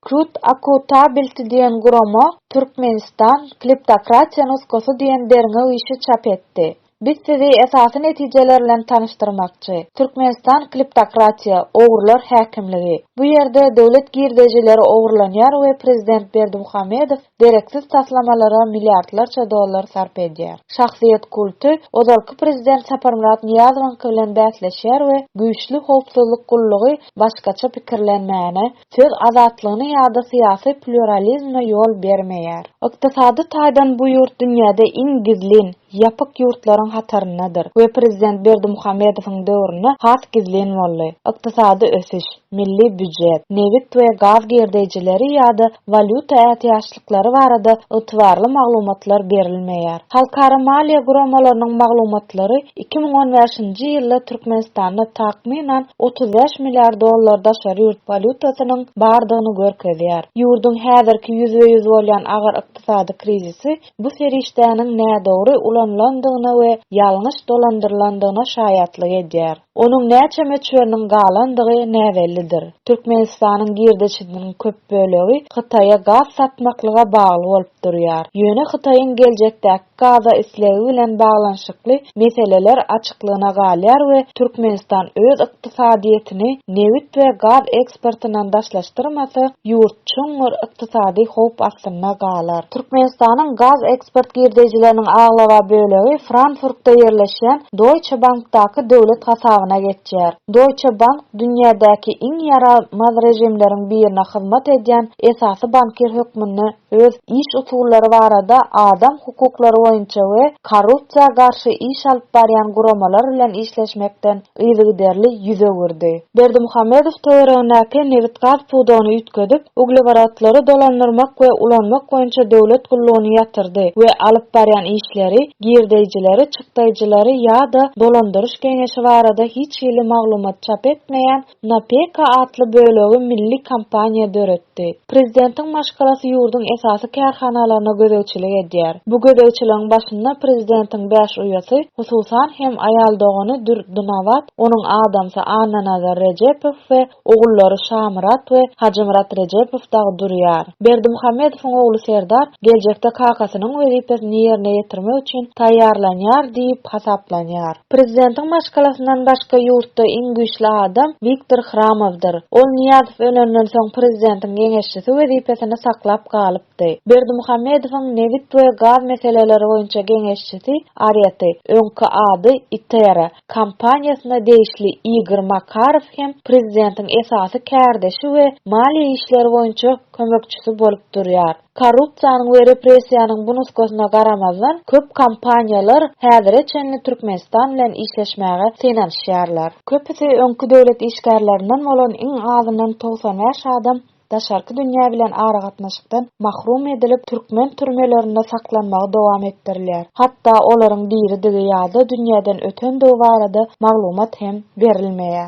Klut Akountability diýen gurama Türkmenistan, Kleptokratiýa nusgasy diýen derňew işi çap etdi. Biz sizi esasy netijeler bilen tanyşdyrmakçy. Türkmenistan Kleptokratiýa, ogrular häkimligi. Bu ýerde döwlet girdejileri ogurlanýar we prezident Berdimuhamedow dereksiz taslamalara milliardlarça dollar sarp edýär. Şahsyýet kulty ozalky prezident Saparmyrat Nyýazowyňky bilen bäsleşýär we güýçli howpsuzlyk gullugy başgaça pikirlenmäne, söz azatlygyna ýa-da syýasy plýuralizme ýol bermeýär. Ykdysady taýdan bu ýurt dünýäde iň gizlin, ýapyk ýurtlaryň hataryndadyr we prezident Berdimuhamedowyň döwründe has gizlin boldy. Ykdysady ösüş, milli býujet, nebit we gaz girdeýjileri ýa-da walýuta ätiýaçlyklary, ýapyşyklary barada ygtybarly maglumatlar berilmeýär. Halkara maliýe guramalarynyň maglumatlary iki müň on bäşinji ýylda Türkmenistanda takmynan otuz bäş milliard dollar daşary ýurt walýutasynyň bardygyny görkezýär. Ýurduň häzirki ýüzbe-ýüz bolýan agyr ykdysady krizisi bu serişdäniň nädogry ulanylandygyna we ýalňyş dolandyrylandygyna şaýatlyk edýär. Onuň näçe möçberiniň galandygy näbellidir. Türkmenistanyň girdeçidiniň köp bölegi Hytaýa gaz satmaklyga bagly bolup durýar. Ýöne Hytaýyň geljekdäki gaza islegi bilen baglanyşykly meseleler açyklygyna galýar we Türkmenistan öz ykdysadyýetini nebit we gaz eksportyndan daşlaşdyrmasa, ýurt. çuňňur ykdysady howp astynda galar. Türkmenistanyň gaz eksport girdeýjileriniň aglaba bölegi Frankfurtda ýerleşýän Deutsche Bankdaky döwlet hasabyna geçýär. Deutsche Bank dünýädäki iň ýaramaz režimleriň birine hyzmat edýän esasy bankir hökmünde öz iş usullary barada adam hukuklary boýunça we korrupsiýa garşy iş alyp barýan guramalar bilen işleşmekden yzygiderli ýüz öwürdi. Berdimuhamedow töweregindäki nebit-gaz pudagyny üýtgedip, ugleworodlary dolandyrmak we ulanmak boýunça döwlet gullugyny ýatyrdy we alyp barýan işleri, girdeýjileri, çykdaýjylary ýa-da dolandyryş geňeşi barada hiç hili maglumat çap etmeýän NAPEKA atly bölegi milli kompaniýa döretdi. Prezidentiň maşgalasy ýurduň esasy kärhanalaryna gözegçilik edýär. Bu gözegçiligiň başynda prezidentiň bäş uýasy, hususan hem aýal dogany Dür Dynawat, onuň adamsy Annanazar Rejepow we ogullary Şamyrat we Hajymyrat Rejepow dagy durýar. Berdimuhamedowyň ogly Serdar geljekde kakasynyň wezipesini ýerine ýetirmek üçin taýýarlanýar diýip hasaplanýar. Prezidentiň maşgalasyndan başga ýurtda iň güýçli adam Wiktor Hramowdyr. Ol Nyýazow ölenden soň prezidentiň geňeşçisi wezipesini saklap galypdy. Berdimuhamedowyň nebit we gaz meseleleri boýunça geňeşçisi Areti, öňki ady Itera, kompaniýasyna degişli Igor Makarow hem prezidentiň esasy kärdeşi we maliýe işleri boýunça kömekçisi bolup durýar. Korrupsiýanyň we repressiýanyň bu nusgasyna garamazdan, köp kompaniýalar häzire çenli Türkmenistan bilen işleşmäge synanyşýarlar. Köpüsi öňki döwlet işgärlerinden bolan iň azyndan togsan bäş adam daşarky dünýä bilen aragatnaşykdan mahrum edilip, türkmen türmelerinde saklanmagy dowam etdirilýär. Hatda olaryň diridigi ýa-da dünýäden ötendigi barada maglumat hem berilmeýär.